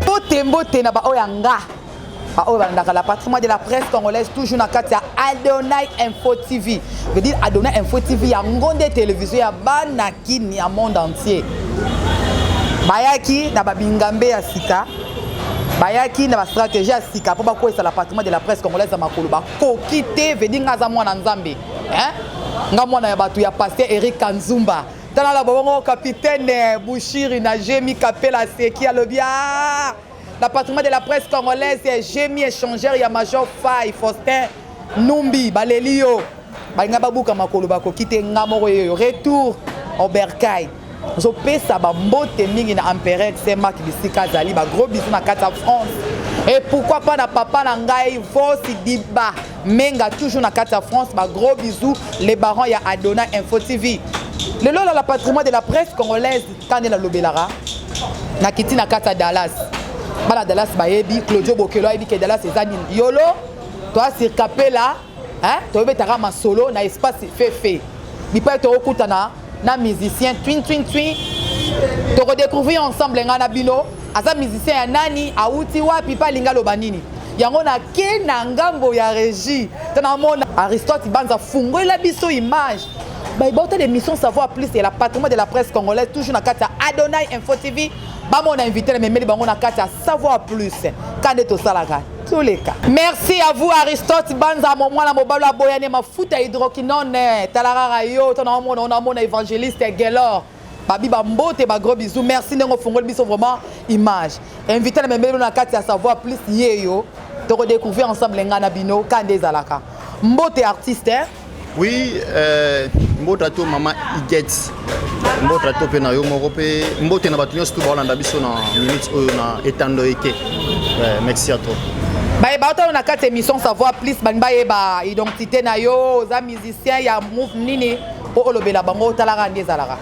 mbote mbote na baoyo ya nga baoyo balandaka la patrimoine de la presse congolaise toujours na kati ya adonai info tv veut dire adonai info tv yango nde televizio ya bana kini ya monde entier bayaki na babingambe ya sika bayaki na bastratégie ya sika mpo bakweyisa la patrimoine de la presse congolaise ya makolo bakoki te vedi nga aza mwana nzambe hein nga mwana ya bato ya pasteur Eric Kanzumba tala la bongo capitaine Bushiri na Jemi Kapela Seki alobi ah la patrimoine de la presse congolaise Jemi échangeur ya Major Fay Faustin Numbi baleli yo balinga babuka makolo bakoki te nga moko yeyo retour au bercail Nazopesa bambote mingi na empereur Saint-Marc bisika azali ba gros bisous na kati ya France et pourquoi pas na papa na ngai Vosi Diba Menga toujours na kati ya France ba gros bisous les barons ya Adona Info TV lelo la patrimoine de la presse congolaise kande na lobelaka na kiti na kati ya Dallas bana Dallas bayebi Claudio Bokelo ayebi ke Dallas eza nini yolo toi sirkapela eh, toyobetaka masolo na espace fefe bipai tokokutana na musicien twin twin twin tokodecouvrir ensemble ngai na bino aza musicien ya nani awuti wapi mpe alingi aloba nini yango nake na ngambo ya régie to namona aristote banza fungolela biso image baibauta de mission savoir plus ya la patrimoine de la presse congolaise toujours na kati ya adonai info tv bamona invité na memeli bango na kati ya savoir plus ka nde tosalaka toleka merci à vous aristote banza mo mwana mobali aboyane mafuta hydroquinone talarara yo to naomona onamona évangéliste gelor babi bambote bagros bisous merci ndenge ofungoli biso vraiment image invité na memeli na kati ya savoir plus yeyo tokodécouvrir ensemble ngai na bino ka nde ezalaka mbote artiste Oui, euh, mbota to mama Iget. Mbota to pe na yo moko pe mbote na bato nyonso to baolanda biso na minute oyo na etando eke. Euh, merci à toi. baye baotala na kati émission savoir plus balingi bayeba identité na yo oza musicien ya move nini mpo olobela bango otalaka nde ezalaka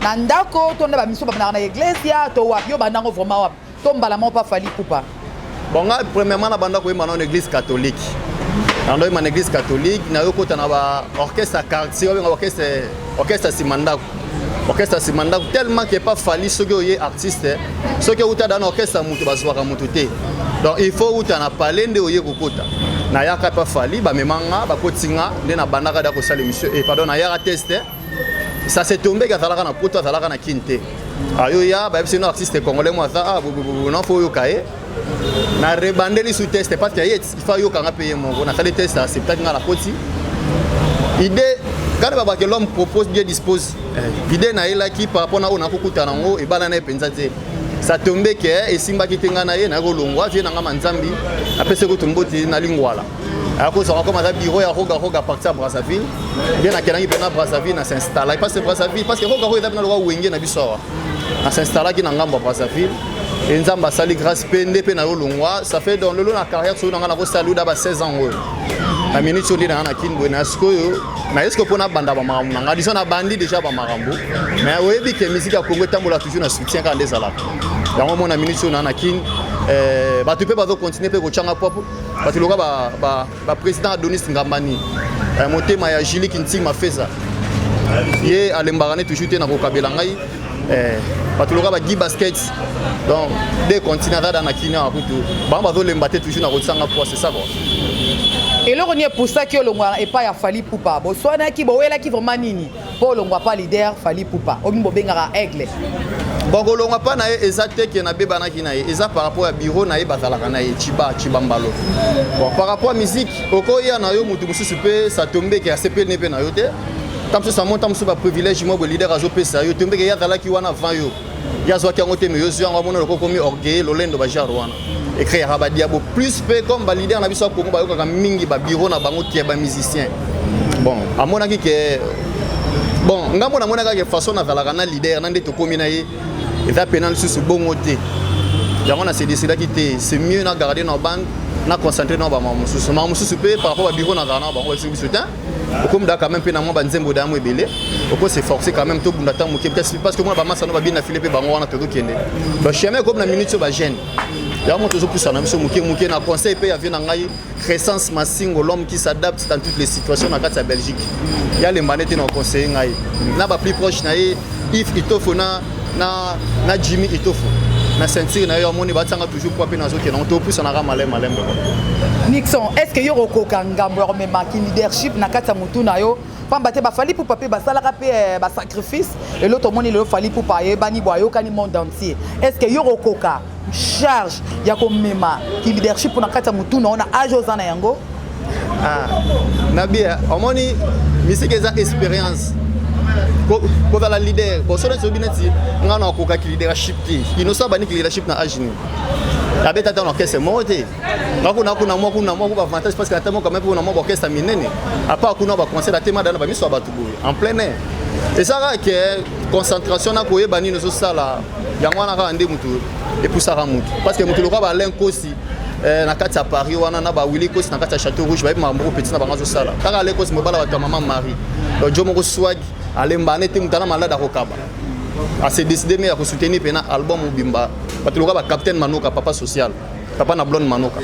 Na ndako to na ba mission ba na iglesia to wapi yo bandango vraiment wapi to mbala moko pa fali kupa. Bon nga premièrement na bandako yema na église catholique. Na ndo yema na église catholique na yo kota na ba orchestre à quartier obenga orchestre orchestre simandako. Orchestre simandako tellement que pas fali soki oye artiste soki uta dans orchestre mutu bazwaka mutu te. Donc il faut uta na palais nde oye kokota. nayaka mpe afali bamemanga bakotinga nde nabandaka da kosala emission e eh, pardon nayaka teste ça s'est tombé azalaka na poto azalaka na kin te ayo ya bayebisi no artiste congolais mo aza ah bobobobo na fo oyoka ye na rebandeli sous test parce que ye il faut ayoka nga mpe ye moko nasali test acceptaki nga na koti idée quand babake l'homme propose dieu dispose eh. idée nayelaki par rapport na oyo nakokutana yango ebala na ye mpenza te ça tombe ke esimbaki te ngai na ye nakolongwa vie na ngai manzambi apesaki kutu mboti na lingwala akozala comme aza bureau ya roga roga parti ya brazzaville nde nakendaki mpena brazzaville na s'installaki parce que brazzaville parce que roga roga eza mpena lokola wenge na biso awa na s'installaki na ngambo ya brazzaville e nzambe asali grâce mpe nde mpe na yo longwa ça fait donc lelo na carrière soki na ngai nakosala luda ba 16 ans oyo na minute oyo nde na ngai na kinboye na sikoyo na eske mpo nabanda bamakambo na ngai diso nabandi déjà bamakambo mais oyebi ke miziki ya kongo etambola toujours na soutien kaka nde ezalaka yango mona minute oyo na ngai na kin eh, bato mpe bazokontinue mpe kotyanga popo bato loka baprésident ba, ba adonis ngambani eh, motema ya julie kinting mafeza ye alembaka ne toujours te na kokabela ngai eh, bato loka bagi basket donc de continue aza da na kini awa kutu bango bazolemba te toujours na kotisanga poa c'est ça quoi eloko nini epusaki olongwa epai ya fali pupa boswanaki bowelaki vraiment nini po olongwa pa leader fali pupa omi bobengaka aigle bakolongwa mpa na ye eza te ke nabebanaki na ye eza par rapport ya biro na ye bazalaka na ye ciba ciba mbalo bon par rapport ya miziki okoya na yo motu mosusu mpe satombeke asepeli ne mpe na yo te ntango mosusu amonta mosusu baprivilège mwa boleader azopesa yo tombeke ye azalaki wana avant yo ye azwaki yango te mais yo zwi yango amona lokola okomi orgueille lolendo ba genre wana ekreaka ba diabo plus mpe comme ba leader na biso ya congo bayokaka mingi ba bureau na bango ke ba musicien bon amonaki ke bon ngai mpo namonaka ke façon nazalaka na leader na nde tokomi na ye eza mpena lisusu bongo te yango na se décidaki te c'est mieux na garde na bande na concentre na bamama mosusu mama mosusu mpe par rapport babiro na garde na bango babiso biso te okomda quand même mpe na mwa banzembo da yango ebele oko se forcer quand même tobunda ntango moke parce que mwana bamasa no babini na file mpe bango wana tozokende bacheme ekomi na minute oyo bagene yango tozopusa na biso moke moke na conseil mpe ya vie na ngai crescence masingo l'homme qui s'adapte dans toutes les situations na kati ya belgique yalemba nde te na conseille ngai na ba plus proche na ye if itofo na na na Jimmy Itofu na ceinture na yo amoni batianga toujours poids mpe nazokende yango topusanaka malem malem boko nixon est ce que yo okokoka ngambo ya komemaki leadership na kati ya motu na yo pamba te bafali pupa mpe basalaka mpe eh, basacrifice elo tomoni lelo fali pupa ayebani bo ayokani monde entier est ce que yo okokoka charge ya komema ki leadership na kati ya motuna ona age oza na yango ah, na bia omoni misiki eza expérience kozala leader bon soki ezobi neti ngai nakokaki leadership te inoso abaniki leadership na age nini abeta ata na orchestre moko te nga kuna kuna mwa kuna mwa kuba avantage parce que ata moko kame kuna mwa baorchestre minene apart kuna baconcert atemadana bamiso ya bato boye en plein air ezalaka ke concentration na koyeba nini ozosala yango wana kaka nde moto epusaka moto parce que moto loka balain kosi eh, na kati ya paris wana na bawili kosi na kati ya chateau rouge bayebi makambo moko petit na bango azosala kaka ale kosi mobala bato ya mama marie donc jo moko swagi alembana ete moto ana malade akokaba ase décide me ya kosoutenir mpena album mobimba bato loka bacapitaine manoka papa social papa na blonde manoka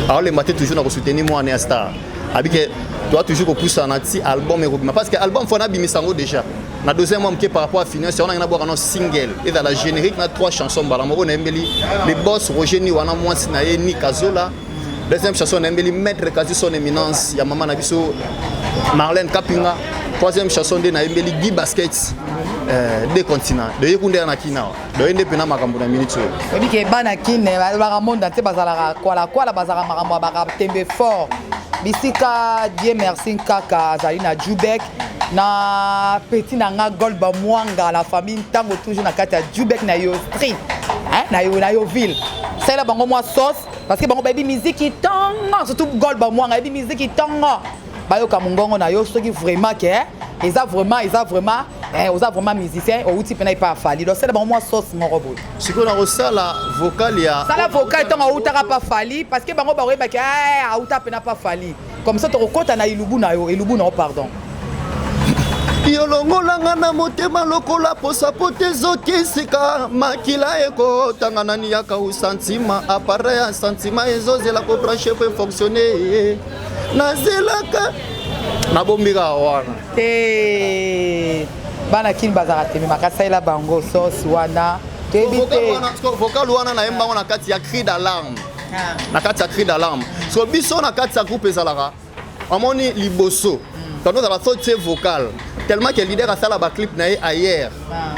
aolemba te toujours na kosoutenir mwana ya star abike toa toujours kopusana ti album ekobima parce que album fo nabimisa yango déjà na dose mwa moke par rapport ya finance yango nange nabwaka na single ezala générique na trois chansons mbala moko nayembeli le boss roger ni wana mwasi na ye ni kazola deuxième chanson nayembeli maître kasi son éminence ya mama na biso marlène kapinga troisième chanson nde nayembeli guy basket euh, de continent de ye kunde ya na kinawa doye nde mpena makambo na minute oyo oyebi ke bana kine eh, balobaka monda te bazalaka kwalakwala bazalaka makambo ya bakatembe fort bisika die merci nkaka azali na jubek na petit na nga golba mwanga la famille ntango toujours na kati ya jubek na yo street na yo na yo ville salela bango mwa sauce parce que bango bayebi miziki ntongo surtout golba mwanga ayebi miziki ntongo bayoka mongongo na yo soki vraiment ke eh, eza vraiment eza vraiment Eh, oza vraiment musicien outi mpena epa afali losala bango mwa sauce moko boye sikoyo nakosala vocal ya sala vocal ntango autaka pa fali parce que bango bakoyebaki eh, auta mpena pa fali comme ça tokokɔta na elubu na yo elubu na yo pardon yolongolanga na motema lokola posa po te ezokisika makila ekotanga nani yakausa ntima apareil ya santima ezozela kobranche po efonctionne nazelaka nabombika wana te bana kini bazalaka teme makasalela bango sosi wana toyebi te vocal wana nayemba yango na kati ya cri d'alarme ah. na kati ya cri d'alarme so biso na kati ya groupe ezalaka amoni liboso hmm. tando ozala so tie vocal tellement ke leader asala baclip na ye ailleurs ah.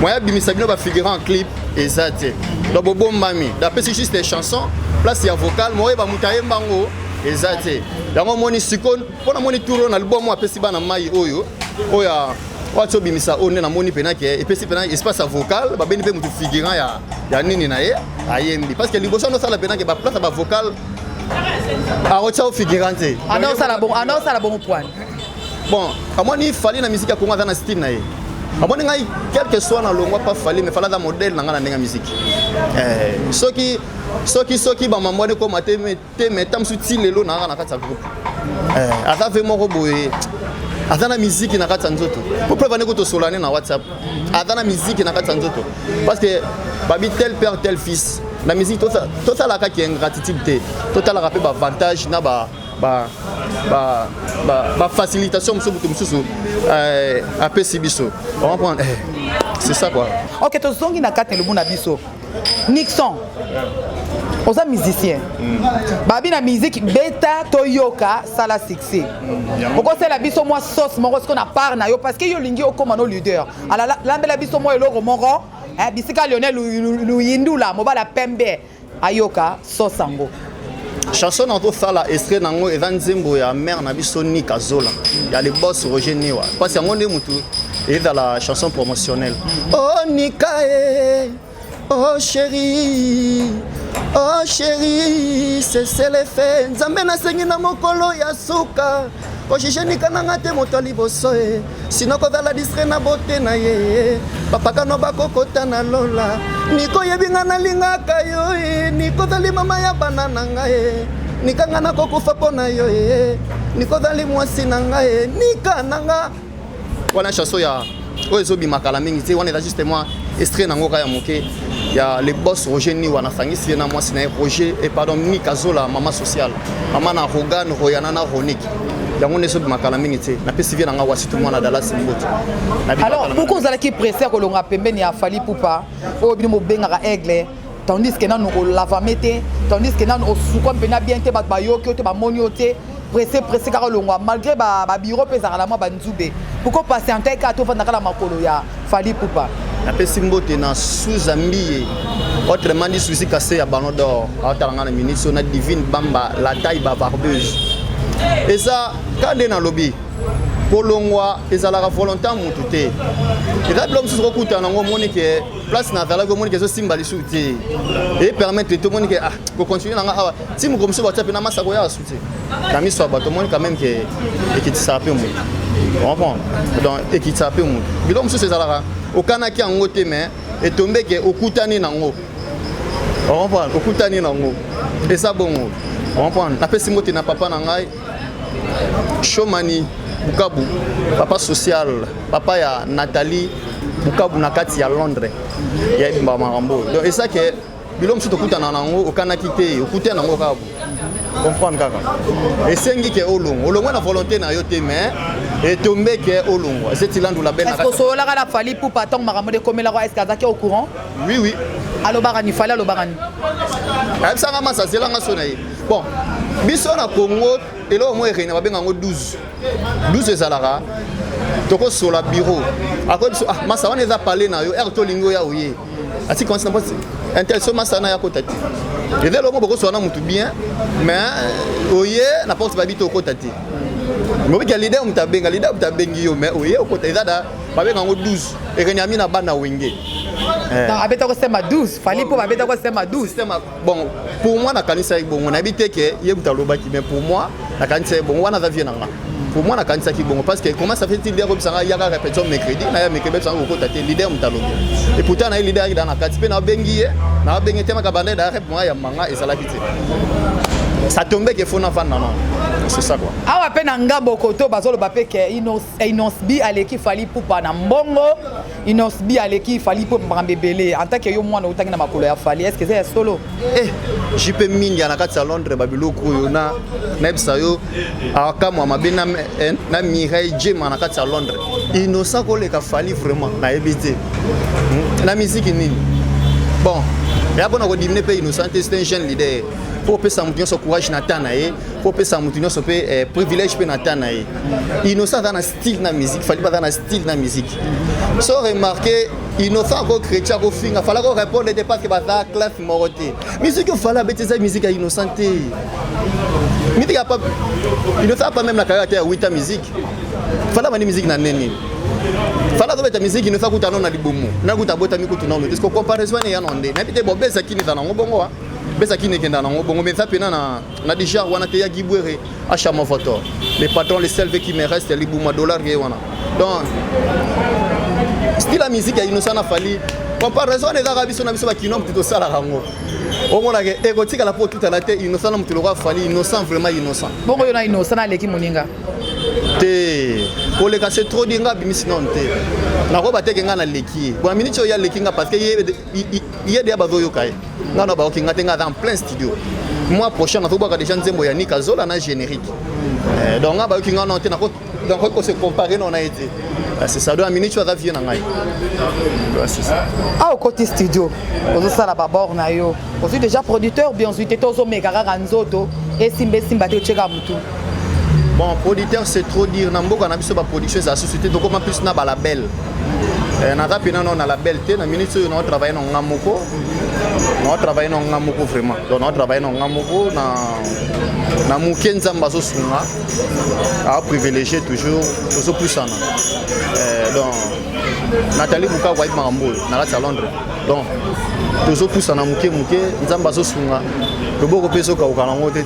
moyen abimisa bino bafigurant en clip eza te hmm. donc bobombami dapesi juste chanson place ya vocal moyeba moto ayemba yango eza te yango omoni sikoyo mpo namoni tour oyo na libwa mwa apesi bana mai oyo oyo wati obimisa oyo nde namoni mpena ke epesi mpena espace ya vocal babeni mpe motu figurant ya, ya nini na ye ayembi parce que liboso andosala mpena ke baplace ya bavocal akotia o figurant te andosala bongo andosala bongo pwani bon amoni fali na miziki ya kongo aza na style na ye amoni ngai quelque soit na longwa pa fali mais fala aza modèle na ngai na ndenge ya miziki eh, soki soki soki bamambo wana ekoma te te mais ntango mosusu ti lelo naanga na kati ya groupe eh, aza ve moko boye aza na miziki na kati ya nzoto po preuve ane kotosola ne na whatsapp aza na miziki na kati ya nzoto parce que babi tel père tel fils na miziki tosalaka ki ingratitude te totalaka mpe baavantage na ba bafacilitation mosusu moto mosusu eh, apesi biso comprendre eh, c'est ça quoi ok tozongi na kati ya lobu na biso Nixon oza musicien mm. babi na musique beta toyoka sala succès mm, okosala biso mwa sauce moko siko na part na yo parce que yo olingi okóma no leader ala lambela biso mwa eloko moko eh, bisika lionel luyindula mobala pembe ayoka sauce yango chanson na tosala estre na yango eza nzembo ya mare na biso nika zola ya le bos roger niwa mpasi yango nde motu ezala chanson promotionnelle o oh, nika e o oh, chéri o oh, chéri seselefe nzambe nasengi na mokolo ya suka ojije nika na nga te moto ya liboso e eh. sino kozala distre na bote na ye eh. bapakano bakokota na lola niko oyebi nga nalingaka yo e niko ozali mama ya bana na nga e nika nga nakokufa mpo na yo e niko ozali mwasi na nga e nika na nga wana chanson ya oyo ezobima kala mingi te wana eza juste mwa estre nango kaka ya moke ya le boss roger niwa nasangisi ye na mwasi na ye roger e pardon nika zola mama sociale mama na rogan royana na ronik yango nde ezobima kala mingi te napesi vie na ngai wasitu mwana dalasi mboto alors boko ozalaki presse ya kolonga pembeni ya fali pupa oyo bino bobengaka aigle tandis que nanu olavame te tandis que nanu osukwa mpena bien te bato bayoki yo te bamoni yo te presse presse kaka olongwa malgré babiro mpe ezalaka na mwa banzube poko patiente kaka tofandaka na makolo ya fali pupa napesi mbote na suza mbiye autrement dit susi kase ya ballon d'or aotala ngai na minute so na divine bamba la taille bavarbeuse eza kade nalobi kolongwa ezalaka volontan motu te eza bilo mosusu kokutana yango omoni ke place na verlaki omoni ke ezosimba lisusu te epermettre te omoni ke ah kocontinue nanga awa ti moko mosusu batia mpe na masa koya lisusu te na miso ya bato omoni quand même ke ekitisaka mpe moto comprendre donc ekitisaka mpe moto biloko mosusu ezalaka okanaki yango te mais etombe ke okutani nango comprendre okutani nango eza bongo comprendre napesi mbote na papa na ngai Shomani Bukabu, papa social, papa ya Nathalie Bukabu na kati ya Londres ya ebimba makambo donc esa ke bilo mosusu tokutana nango okanaki te okutana nango kaka comprendre kaka esengi ke olongwa olongwa na volonté na yo te mais etombe ke olongwa eseti landu la belle osololaka na fali pupa ntango makambo dekomelaka eske azaki au courant oui oui alobaka ni fali alobaka ni ayebisanga masa azelanga so na ye bon biso na congo eloko moko ereina babenga yango 12 12 ezalaka tokosola biro akoyi biso ah masa wana eza pale na yo ere tolingi oya oye ati konsi na mposi intéressé masa na ya kota te eza eloko bokosola na motu bien mais oye na porte babi to okota te mobikya lider moto abenga lider moto abengi yo mais oye okota eza da babenga yango 12 erenyami na bana wenge eh. abetaki osema 12 fali mpo babetaki osema 12 bon pour moi nakanisaki bongo nayebi te ke ye moto alobaki mais pour moi nakanisaki bongo wana aza vie na nga pour moi nakanisaki bongo parce que comment ça fait il leader obisa nga yaka répétition mercredi naya mercredi bebisa nga kokota te leader moto alobi et pourtant naye leader ayaki daa na kati mpe nabengi ye nabengi te makabanda da rep moya ya manga ezalaki te ça tombait que fona vanda non c'est ça quoi awa mpe na nga bokoto bazoloba mpe ke innocent Inosbi aleki fali pupa na mbongo Inosbi aleki fali pupa makambo ebele en tant que yo mwana otangi na makolo ya fali est-ce que eza ya solo eh jipe mingi na kati ya Londres ba biloko oyo na nayebisa yo akamwa mabe na eh, na Mireille Jema na kati ya Londres innocent koleka fali vraiment nayebi te hmm? na miziki nini bon ya mpona kodimine mpe innocent te c'est un jeune leader mpo opesa moto nyonso courage na temps na ye mpo opesa moto nyonso mpe eh, privilège mpe na temps na ye innocent aza na style na musique fali baza na style na musique so remarqué innocent ako chrétien akofinga fala ko répondre te parce que baza classe moko te musique oyo fala abeti eza musique ya innocent te musique ya pap innocent apa même na carrière te ya wita musique fala bandi musique na nini fala azobeta miziki inosa kuta no na libumu nakuta abotami kutu nano te siko comparaison ene ya no nde nayebi te bobesa kini eza nango bongo besa kini ekenda nango bongo meza mpena na na déjà wana te ya gibwere achama voto le patron le selve qui me reste libuma dollar ye wana donc style ya musique ya innocent na fali comparaison ezaka biso na biso bakino motu tosalaka yango omonaka ekotikala mpo otutana te innocent na motu lokola fali innocent vraiment innocent bongo yo na innocent aleki moninga te koleka se trop di nga abimisi nano te nakoba teke nga naleki ye bona miniti oyo aleki nga parce que ye ye deya bazoyoka ye ngai na bayoki ngai te ngai aza en plein studio mois prochain nazobwaka déjà nzembo ya nika zola na générique eh, donc ngai bayoki ngai nao te nakoki kose compare nao na ye te ah, c'est ça donc aminichu aza vie na ngai ah okoti studio ozosala babor na yo ozwi déjà producteur bien ozwi te te ozomeka kaka nzoto esimba esimba te otyeka motu bon producteur c'est trop dire na mboka na biso baproduction eza susu te tokoma plus na balabel eh, naza mpena nao na label te na minute oyo nao travaille na nga moko nao travaille na nga moko vraiment donc nao travaille na nga moko na na moke nzambe azosunga aprivilégie toujours tozopusana eh, donc natali bukaku ayebi makambo oyo na kati ya londres donc tozopusana moke moke nzambe azosunga loboko mpe ezokauka nango te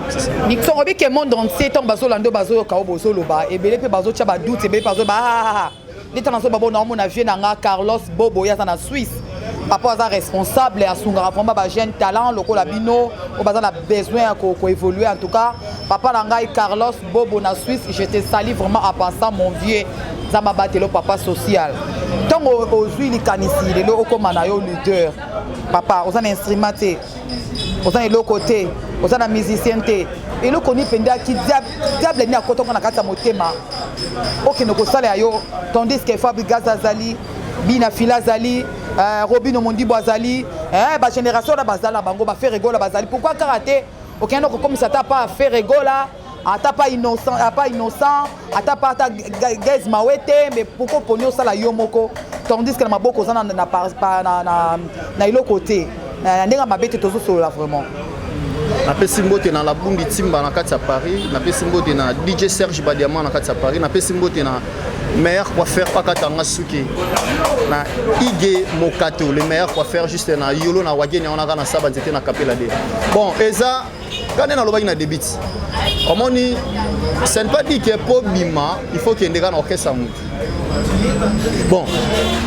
Nixon obi que monde entier ntango bazolanda oyo bazoyoka oyo bozoloba ebele mpe bazotya badoute ebele mpe bazoba ahaha nde ntango nazoba bo naomona vie na nga Carlos Bobo ye aza na Suisse papa aza responsable asungaka vraiment ba jeune talent lokola bino oyo baza na besoin ya koévolue en tout cas papa na ngai Carlos Bobo na Suisse je te sali vraiment à passant mon vieux nzambe abatelo papa social ntango ozwi likanisi lelo okóma na yo leader papa oza na instrument te oza na eloko te oza na musicien te eloko nini mpenza diable nini akotaka na kati ya motema okende kosala ya yo tandis que fabrigas azali bina fila azali euh, robino mondibo azali eh, bagénération wana bazala bango baferegola bazali pourkui kaka te okende kokomisa ata pa feregola ata pa innocent apa innocent ata pa ata gaise mawete mais pourquoi poni osala yo moko tandis que na maboko oza na na na na na eloko te na ndenge mabe te tozosolola vraiment napesi mbote na labundi timba na kati ya paris napesi mbote na dj serge badiama na kati ya paris napesi mbote na meilleur coiffeur pakatanga suki na ige mokato le meilleur coiffeur juste na yolo na wagenia wana kaka na saba nzete na kapela de bon eza kaka nde nalobaki na debit omoni ce n'est pas dit que mpo bima il faut kende kaka na orchestre ya motu bon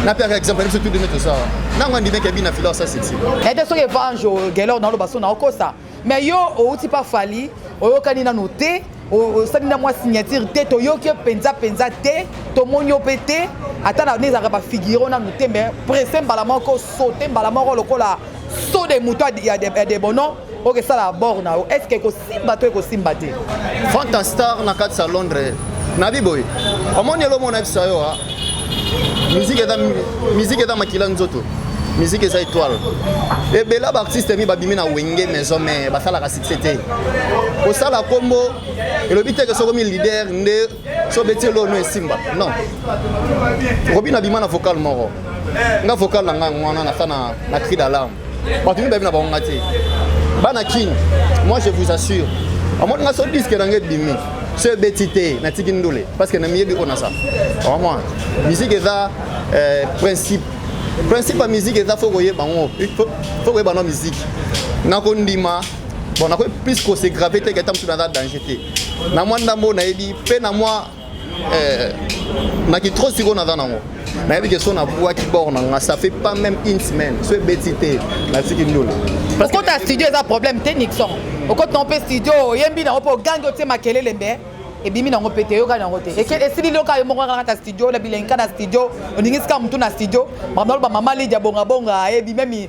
napiaka exemple biso tu demi tosala ntango andimeki abina fila osa sexy ete soki evange gelor naloba so na okosa mais yo outi pa fali oyokani nano te osali na mwa signature te toyoki yo mpenza mpenza te tomoni yo mpe te ata na ne ezalaka bafigure o nanu te mais presse mbala moko sote mbala moko lokola so de moto ya debono okesala abord na yo est ce que ekosimba to ekosimba te frank en star na kati ya londres nabi boye omoni elo omona bisa yo ah. miziki eza makila nzoto miziki eza étoile ebela baartiste mi babimi na wenge maison mare basalaka succès te kosala nkombo elobi teke sokomi leader nde so obeti elo no esimba non okobi na bima na vocal moko nga vocal na ngai wana na sa na cri d'alarme bato mibale na bango nga te bana kin moi je vous assure omoni nga so diske na nga ebimi so ebeti te natiki ndule parce que na miyebi oyo na sa omona musique eza euh, principe principe ya musique eza fo koyeba yango fo koyeba no musique nakondima bon nakoki plus ko se grave te keta mosusu naza danger te na mwa ndambo oyo nayebi mpe na mwa eh, na kitro sikoyo naza nango nayebi ke so nabwaki bor na nga ça fait pas même une semaine so ebeti te natiki ndolo okota studio eza problème te nixon okoti nango mpe studio oyembi nango mpe ogangi otie makelele mbe ebimi nango mpe te eyokani yango te esili loka yo moko kaka na studio na bilengi kaka na studio oningisika motu na studio makambo naloba mama lidia bongabonga ebimemi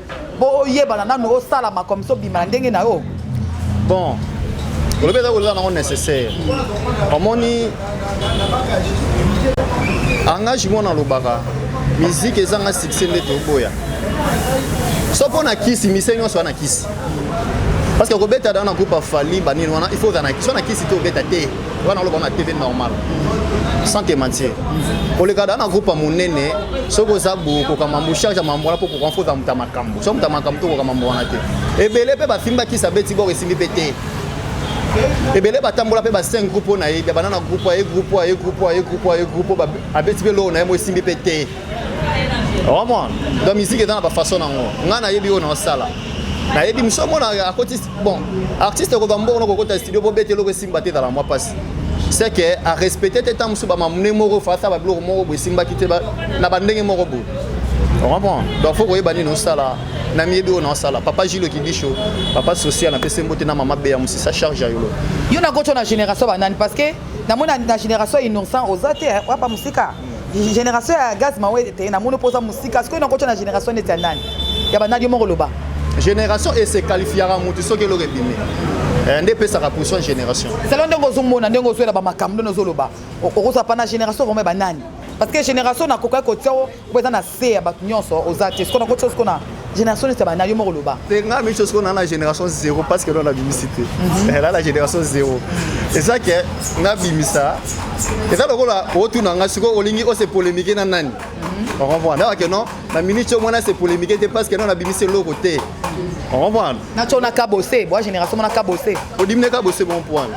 po oyebana nanu osalama comme ça obima na ndenge na yo bon olobi eza kolela nango nécessaire omoni angage mwana alobaka miziki ezanga succès nde toboya so mpo na kisi mise nyonso wana kisi parce que kobeta da na groupe afali banini wana il faut ozala na kisi wana kisi te obeta te nga naloba na tv normal sans te mentir koleka da na groupe ya monene soki oza bokoka mambo charge ya mambo wana mpo koka mpo oza moto ya makambo so moto ya makambo tokoka mambo wana te ebele mpe bafimbakisa beti boko esimbi mpe te ebele batambola mpe baseng groupe oyo na ye bana na groupe aye groupe aye groupe aye groupe aye groupe abeti mpe loo na ye mo esimbi mpe te omon donc misiki eza na bafaçon nango ngai nayebi oyo naosala nayebi mosu omona akoti bon artiste ekoba mbongo nakokota studio bobeta eloko esimba te ezala mwa mpasi c'est que arespecte te ntango mosusu bamamune moko fasa babiloko moko boye esimbaki te na bandenge moko boye ocomprend donc fo koyeba nini osala na miyebi oyo naosala papa gilo kibisho papa social napesi mbote na mama beya mosisa charge ya yolo yo nakotyo na génération banani parce que namona na génération innocent oza te wapa mosika generation ya gaz mawete te namoni mpo oza mosika sikoyo nakotya na generation neti ya nani ya banani yo moko loba génération e se qualifiaka motu soki eloko ebimi eh, nde epesaka position ya génération selo ndenge ozomona ndenge ozwela bamakambo ndenge ozoloba okozwa pana génération vraimen banani parce que génération nakokaki kotia oyo eza na se ya bato nyonso oza te sikoyo nakotya sikoyo na génération neti bana yo moko loba te nga miso siko na na génération zéro parce que na bimisi te mhm. eh, na na génération zéro eza ke nga bimisa eza lokola otuna nga siko olingi ose polémique na nani mhm. okomprendre nayaka ke non na minute yo mwana se polémique te parce que non na bimisi eloko te okomprendre na tio na kabose bwa génération mwana kabose odimi na kabose bon point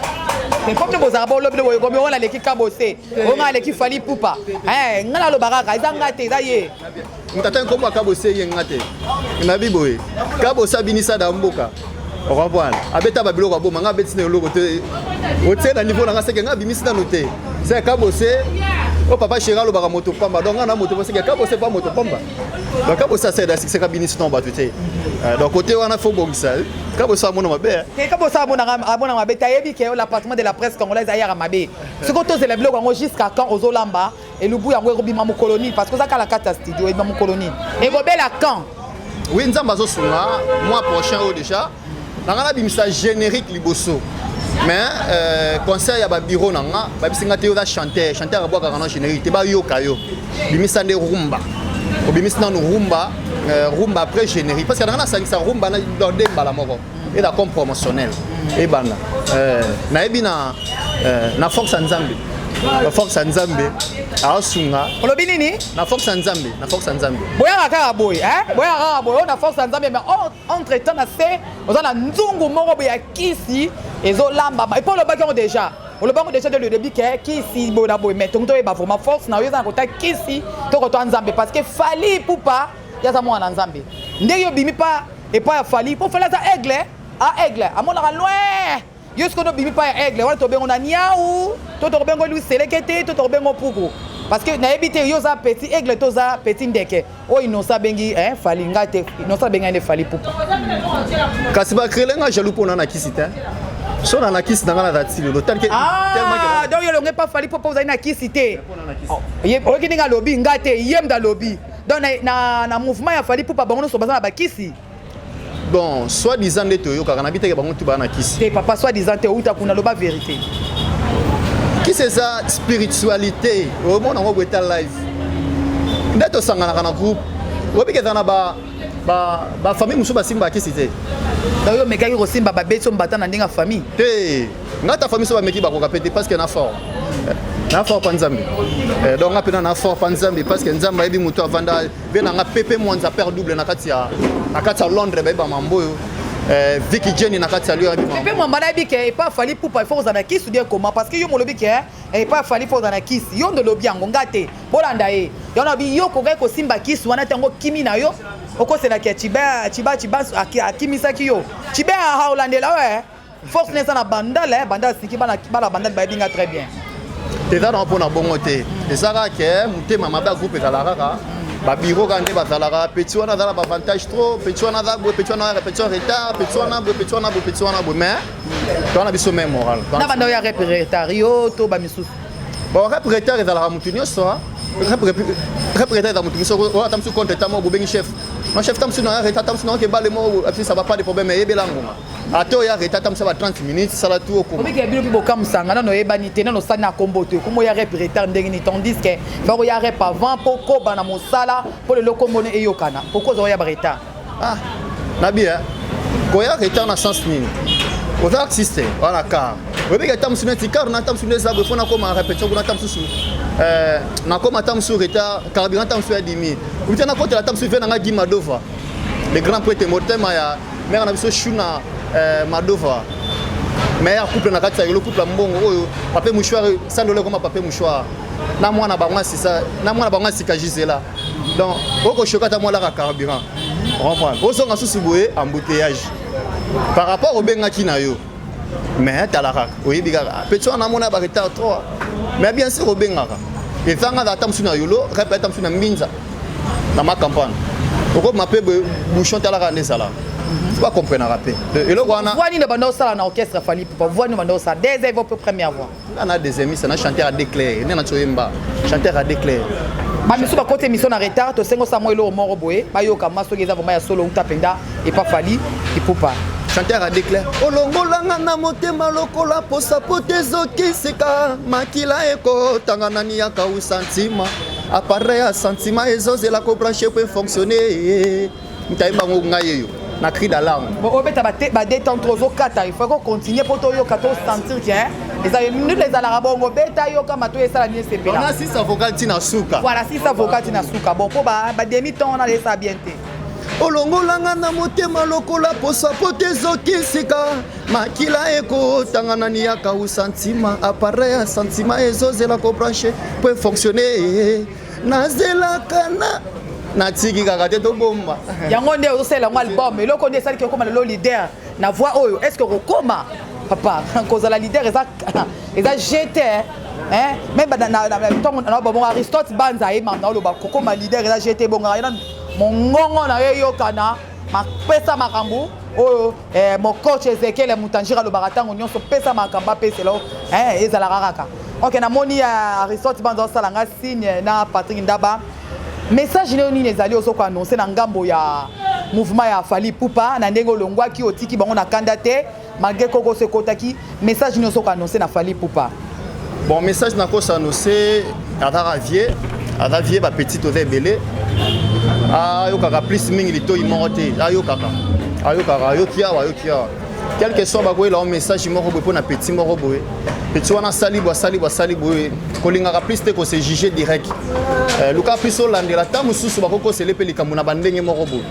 mais comme bozalaka bolobi nde boyekomi oyo naleki kabose oyo ngai aleki fali pupa eh, ngai naloba kaka eza ngai te eza ye Tata nkombo ya Kabo Seye nga te. Nabi boye. Kabo sabinisa da mboka. okomprendre abeta babiloko aboma ngai abeti na eloko te otie na niveau na ngai seke ngai abimisi nano te se kabose o oh, papa sheri alobaka moto pamba donc ngai na moto seke kabose mpa moto pamba donc kabose aseda sikisaka binisi na bato te euh, donc kote wana fo bongisa kabose amona mabe eh, kabose amona mabe te ayebi ke l'appartement de la presse congolaise ayaka mabe soki tozela biloko yango jusqu'à quand ozolamba elubu yango ekobima mokolo nini parce que oza kala kati ya studio ebima mokolo nini ekobela quand oui nzambe azosunga mois prochain oyo déjà nanga nabimisa générique liboso mais euh, concert ya babiro na nga babisi nga te oza chanteur chanteur abwakaka na générique te bayoka yo bimisa nde rumba obimisi nanu rumba euh, rumba après générique parce que nanga nasangisa rumba na dembala moko et la com promotionnel et bana euh, na ebi na euh, na force ya nzambe na force ya nzambe asunga olobi nini na force ya nzambe na force ya nzambe boyaka kaka boye eh? boyaka kaka boye na force ya nzambe mais entre temps na se oza na nzungu moko boye ya kisi ezolambama epo olobaki yango déjà olobi yango déjà de le début ke kisi boye na boye mais tongi toyeba vraiment force na yo eza na kota kisi tokotoa nzambe parce que fali pupa yaza mwana na nzambe ndenge obimi pa epai ya fali mpo fali aza aigle a ah, aigle amonaka loin yo sikoyo nde obimi pa ya aigle wana tobengo na niau to tokobengo lui seleke te to tokobengo puku parce que nayebi te yo oza petit aigle to oza petit ndeke oyo inosa abengi eh, fali ngai te inosa abengi ngai nde fali pupa kasi bakrele ngai jaloux mpo na na kisi te so na na kisi na ngai na dati lelo donc ah, yo elongo epa fali mpo mpo ozali na kisi te oyoki ndenge alobi ngai te ye mda alobi donc na, na, na mouvement ya fali pupa bango nyonso baza na bakisi bon soit disant nde toyokaka na biteke bango tu baa na kisi te papa soit disant te outa kuna loba vérité kisi eza spiritualité omona yango boeta live nde tosanganaka na groupe oyebiki eza na ba bafamille mosusu basimbaka kisi te omekaki kosimba babeti yo mbata na ndenge ya famille te nga ta famille so bameki bakoka pe te parce que na fort na fort pa nzambe eh, donc nga pena na fort pa nzambe parce que nzambe ayebi moto avanda ve na nga pepe mwanza père double na kati ya na kati ya londres bayeba mambo oyo eh, Vicky Jenny na kati ya lio yabi mambo pe mwamba na yebi ke epa fali pupa il faut kozana kisi bien koma parce que yo molobi ke eh, epa fali faut kozana kisi yo ndo lobi yango nga te bolanda ye yo na bi yo kokai kosimba kisi wana tango kimi na yo okoselaki ya chiba chiba chiba akimisaki yo chiba aolandela yo eh Force na eza na bandala, eh, bandala sinki bana bana bandala bayebi nga très bien. Eza na pona bongo te. Eza ka ke eh, mutema mabe ya groupe kala kaka. Ba bureau ka nde bazalaka petit wana azala ba avantage trop, petit wana aza boye, petit wana petit wana retard, petit wana boye, petit wana boye, petit wana boye mais tona biso même moral. Na banda ya rep retard yo to ba misusu. Bon rep retard ezalaka mutu nyonso. Hein. représente dans mon tout ça on attend sur compte tant mon bobeng chef mon chef tant sur na reta tant sur na ke bale mo ça va pas de problème et belango ata oya reta atambusa ba 30 minutes sala tu okomobikela bino mpe bokamusanga nano oyebani te nano osali na kombo te okomi oya rep retard ndenge nini tandis ke faka oya rep avant mpo koba na mosala mpo lelo kombono eyokana pourkoi oza oya baretard ah nabi eh? koya retard na sens nini oza artiste wana car oyebiki ata mosusu neti car na ata mosusu nde eza boye mpo nakoma répétition kuna ata mosusu eh, nakoma ata mosusu retard carburant ata mosusu ya dimi komita nakotela ata mosusu ve na ngai gimadova le grand prêtre motema ya Mère na biso Shuna euh, Madova. Mère couple na kati ya yolo couple mbongo oyo papier mouchoir sandole comme papier mouchoir. Na mwana bango asisa, na mwana bango asika Gisela. Donc oko shokata mwa la carburant. Comprendre. Ozonga susu boye embouteillage. Par rapport obengaki na yo. mais tala kaka oyebi kaka petit wana amona ba retard trop mais bien sûr obengaka ezanga ata mosusu na yolo kape ata mosusu na mbinza na makambo wana okobima mpe bouchon talaka nde ezalaka mhm. bakomprenaka mpe eloko wana voix nini banda osala na orchestre fali pupa voix nini banda osala des evo mpe première voix nga na deuxième misa na chanteur a déclare nde na tsoyemba chanteur a déclare bamisu bakoti émission na retard tosengo sa mwa eloko moko boye bayoka mwa soki eza vraimen ya solo uta mpenza epa fali ipupa chanteur a déclare olongolanga na motema lokola posa po te ezokisika makila ekotanga nani yakausa ntima apareil ya sentiment ezozela kobranche po efonctionne Mtaye bango ngai yeyo na cri d'alarme. Bon obeta ba te ba détendre ozo kata il faut ko continuer pour to yoka to sentir que hein eza ye minute ezalaka bongo beta yoka mato esala ni esepela. On a six avocats tina suka. Voilà six avocats tina suka. Bon po ba ba demi temps on a laissé ça bien te. olongolanga na motema lokola posa po te ezoki nsika makila ekotanga na niyaka usantima apareil ya santima ezozela kobranche po efonctionne nazelaka na natiki kaka te tobomba yango nde ozosalela yango album eloko nde esaliki okoma lelo leader na voix oyo est ce que okokoma papa kozala leader eza eza jete meme ntango nababongo aristote banza ye mama oloba kokoma leader eza jete ebongaka ye nanu mongongo na yo eyokana pesa makambo oyo eh, mokoch ezekiele mutanjira alobaka ntango nyonso pesa makambo apesela o eh, ezalaka kaka ok namoni ya eh, aristote banza osala nga signe na patrik ndaba message nayo nini ezali ozo koannonce na ngambo ya mouvement ya fali pupa na ndenge olongwaki otiki bango na kanda te Malgré Coco se kotaki message nioso ko annoncer na Fally Poupa. Bon message na ko s'annoncer azaka vieux, aza vieux ba petit oza ebele. Ayokaka plus mingi litoyi moko te, ayokaka. Ayokaka, ayoki awa, ayoki awa. Quel que soit bakoyela o message moko boye mpo na petit moko boye. Petit wana asali boye, asali boye, asali boye. Kolingaka plus te ko se juger direct. Euh, luka plus olandela ta mosusu bakokosele mpe likambo na bandenge moko boye.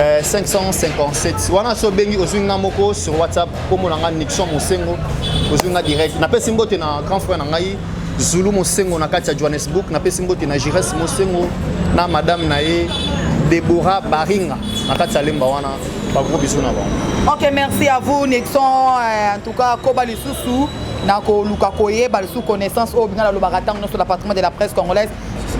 Euh, 557 wana so obengi ozwi nga moko sur whatsapp nkombo na ngai nixon mosengo ozwi nga direct napesi mbote na grand frère na ngai zulu mosengo na kati ya johannesburg napesi mbote na gires mosengo na madame na ye debora baringa na kati ya lemba wana bagros biso na bango ok merci à vous nixon euh, en tout cas koba lisusu na koluka koyeba lisusu connaissance oyo binga nalobaka ntango nyonso na patrimoine de la presse congolaise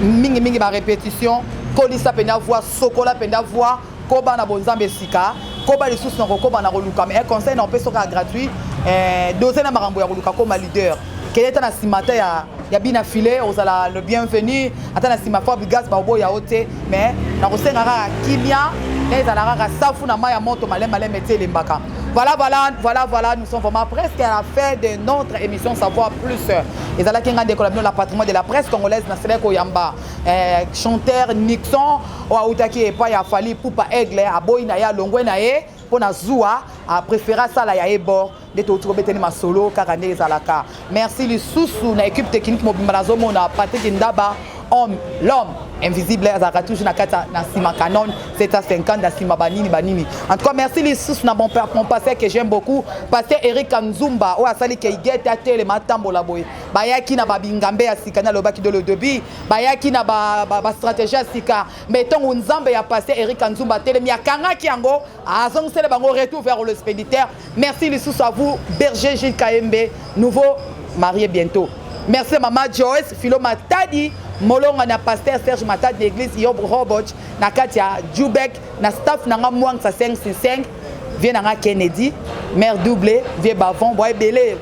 mingimingi barépétition kolisa mpenza voix Sokola penda voix, koba na bonzambe sika, koba lisusu na kokoba na koluka mais un conseil na opesi soka gratuit, eh, doser na makambo ya koluka koma leader. Keleta na simata ya ya bina filet ozala le bienvenu ata na sima fort bigas ba oboya ote mais na kosenga kaka kimia na ezala kaka safu na maya moto malem malem ete elembaka Voilà, voilà, voilà, voilà, nous sommes vraiment presque à la fin de notre émission Savoir Plus. Et là, qui a la patrimoine de la presse congolaise, na sele koyamba. eh, chanteur nixon oyo autaki epai ya fali pupa aigle aboyi na ye alongwe na ye mpo na zuwa apréféré asala ya ebor nde touti kobetani masolo kaka nde ezalaka merci lisusu na équipe technique mobimba nazomona patrik ndaba homme l'homme invisible azalaka toujours na kati na nsima canon 750 na nsima banini banini en tout cas merci lisusu na mon père mon passé que j'aime beaucoup passé eric kanzumba oyo asali keigete atelema atambola boye bayaki na babingambe ya sika nalobaki de le debut bayaki na bastratégie ya sika mais ntongo nzambe ya passe eric anzumba atelemi akangaki yango azongisele bango retour vers le spéditaire merci lisusu à vous berger gilles kaembe nouveau marié bientôt merci mama joyce philo matadi molonga na paster serge matadi na église yob roboch na kati ya jubek na staff na nga mwangisa 565 vie na nga kennedy mare double vie bavon bwa ebele